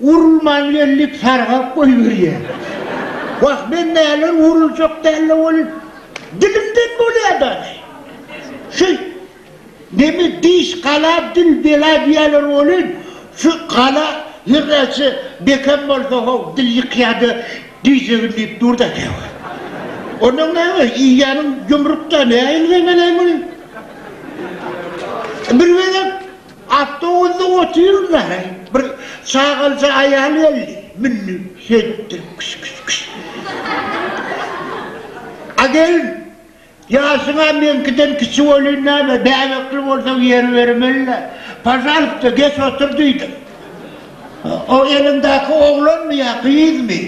Urulman geldik sargap goýberýär. Wah men näler uruljak dälle ol dilimden bolýa dagy. Şu neme diş gala dil bela diýýäler welin şu gala her näçe bekem bolsa how dil ýykýada diýjegin diýip durda käwagt. Onnoň näme iýýäniň ýumruk da näýil zemelem ol. Bir gezek. Awtobusda otyryn-da, heý, bir çagalja aýal geldi, mündi, şeýtdi, kş-kş-kş. A gelin, ýaşyň-a meňkiden kiçi welin näme, bäbekli bolsaň ýer bermeli-le. Pažalpsta, geç otur diýdim. O eliňdäki oglanmy ýa gyzmy?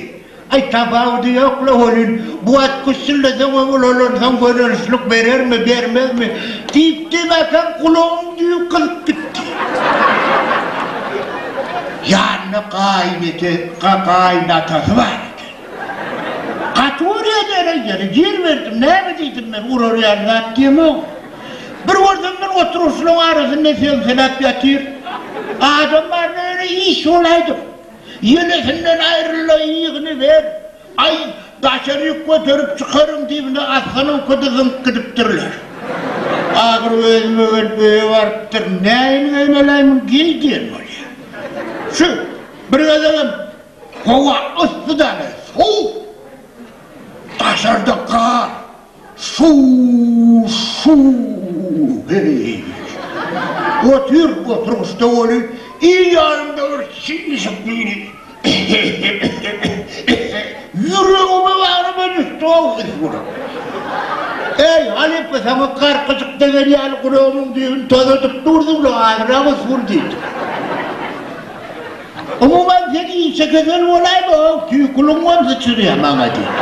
Aý tabawudy ýok-la welin, bu wagt güssüldeseň-ä ulalansoň gönelişlik berermi, bermezmi? diýipdi, mäkäm gulagyň düýbi gyzyp gitdi. Ýanynda gaýynete, ga-gaýynatasy bar eken. Gaty görýä dälä ýeri, ýer berdim, näme diýdim men, urar ýaly zat diýemok. Bir görsem men oturgyçlaryň arasynda semseläp ýatyr. Adam baryn öýüne iş bolaýdym. Ýenesinden aýryl-da, ýygyny ber! Aý, daşary ýük göterip çykaryň diýibine asgynynky-da zyňyp gidipdirler. Ahyr özüme gelip öýe barypdyr. Nähili geýmeläýmem, geý diýen bolýar. Şu bir gezegem howa yssy daly, sowuk. Daşarda gar. Su-su-heý-ýeý. Otur, oturgyçda boluň, il ýanymda bir çyşyk diýdi. Ýüregime baryba düşdi-ow ys bular. Äý, halypa, saňa garkyjyk degen ýaly guragymyň düýbüni tozadyp durduň-la, azyrak ys bur diýdim. Umuman sen işe gözel bolaýma how tüý guluň bolsa çyryýa maňa diýip.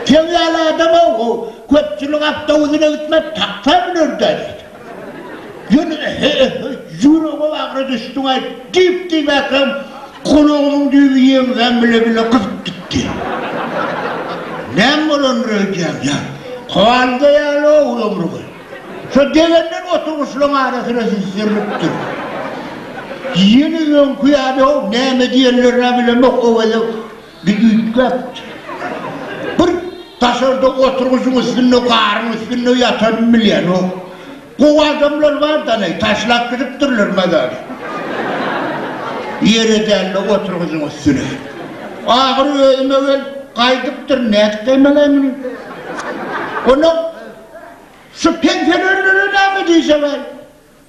Seň ýaly adam how how köpçülik awtobusuna gitmez taksa münerdä diýip. Ýöne he he ýüregem agra düşdüňaý diýip diýmäkem gulagymyň düýbi ýeňsäm bile bile gyzyp gitdi. Näme bolandyr öýdýän ýa kowalga ýaly how ömrüňi. Şo degenler oturgyçlaryň arasyna süzülipdir. Ýene öňki ýaly how näme diýenlerini-ä bilemok, owadan bir üýtgäpdir. Bir daşarda oturgyçyň üstünde, garyň üstünde ýatanyny bilýänok. Gowy adamlar bardan-aý, taşlap gidipdirler mazary. Ýere däl-de oturgyçyň üstüne. Ahyry özüme gelip, gaýdypdyryn, nädip gaýmalaýyn muny? Onnoň Şu pensionelere näme diýseňem,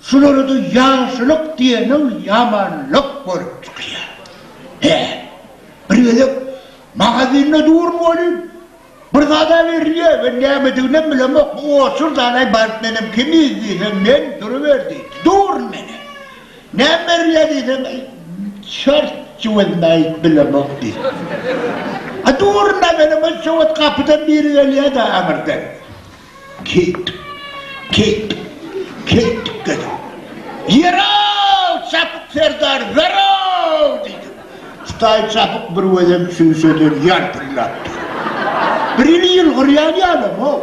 şulara-da ýagşylyk diýeniň ýamanlyk bolup çykýar. Hä, bir gezek magazinde durun welin, bir zad-a berilýär, men nämediginem bilemok, bu otur-da alaý baryp, menem kimiz diýsem, men duruber diýdi. Durun menem. Näme berilýär diýseň, çort jüwezini aýyp bilemok diýdi. A durna belemok, jüwez gapydan biri gelýär-de aňyrdan. Keýtdik, keýtdik, keýtdik dedim. Ýer-ow, Çapyk serdar, zorow! diýdim. Hudaý Çapyk bir gözem çüýşeden ýalpyldapdyr. Birini ýylgyrýan ýalam-ow.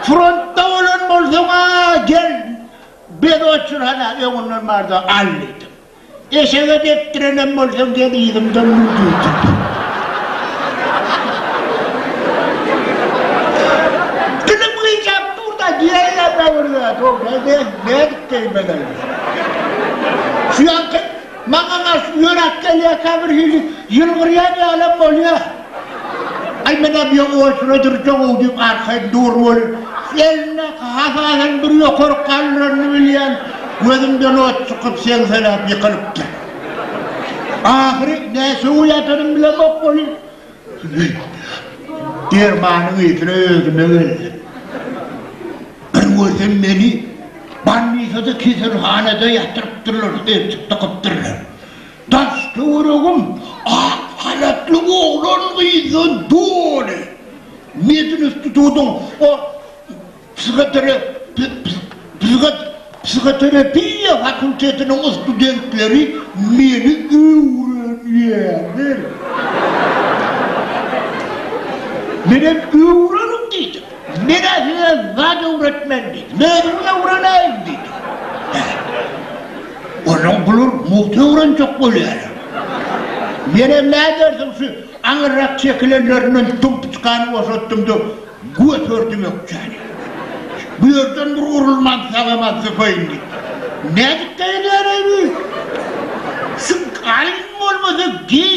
Frontda bolan bolsaň-a, gel, Biz otur hala öňünden barda al diýdim. Eşege depdirenem bolsaň gel yzymdan mün diýdim. Dilim gyjap durda diýäýýärme bir zat o nädip nädip diýmeli. Şu ýaňky maňa garşy ýöräp gelýärkä birhili ýylgyrýan ýalam bolýar. Aý menä bu ýa oýsuna dyrjagow diýip arkaýyn dur weli, elinde hasadan bir ýokaryk galdyranyny bilýän, gözümden ot çykyp seňseläp ýykylypdyr. Ahyry nä sögüp ýatanymy bilemok weli, dermanyň yzyna özüme geldim. Bir görsem meni banditada keselhanada ýatyrypdyrlar, eltik dykypdyrlar. Daş-töweregim ak halatly oglan-gyzdan doly. Medinstitutyň o psihoterapiýa fakultetiniň studentleri meni öwrenýärler. Menem öwreniň diýdim. Men-ä size zat öwretmen diýdim. Özümiň öwreneýin diýdim. Hä. Onuň bular mugty öwrenjek bolýarlar. Menem nädersiň şu aňyrrak çekilenlerinden dumpuçkany boşatdym-da, göterdim ökjäni. Bu ýerden bir urulman sagama sypaýyn diýip. Nädip geýilýär-eý bu? Şu alyň bolmasa geý,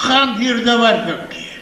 konserta barsak diýýär.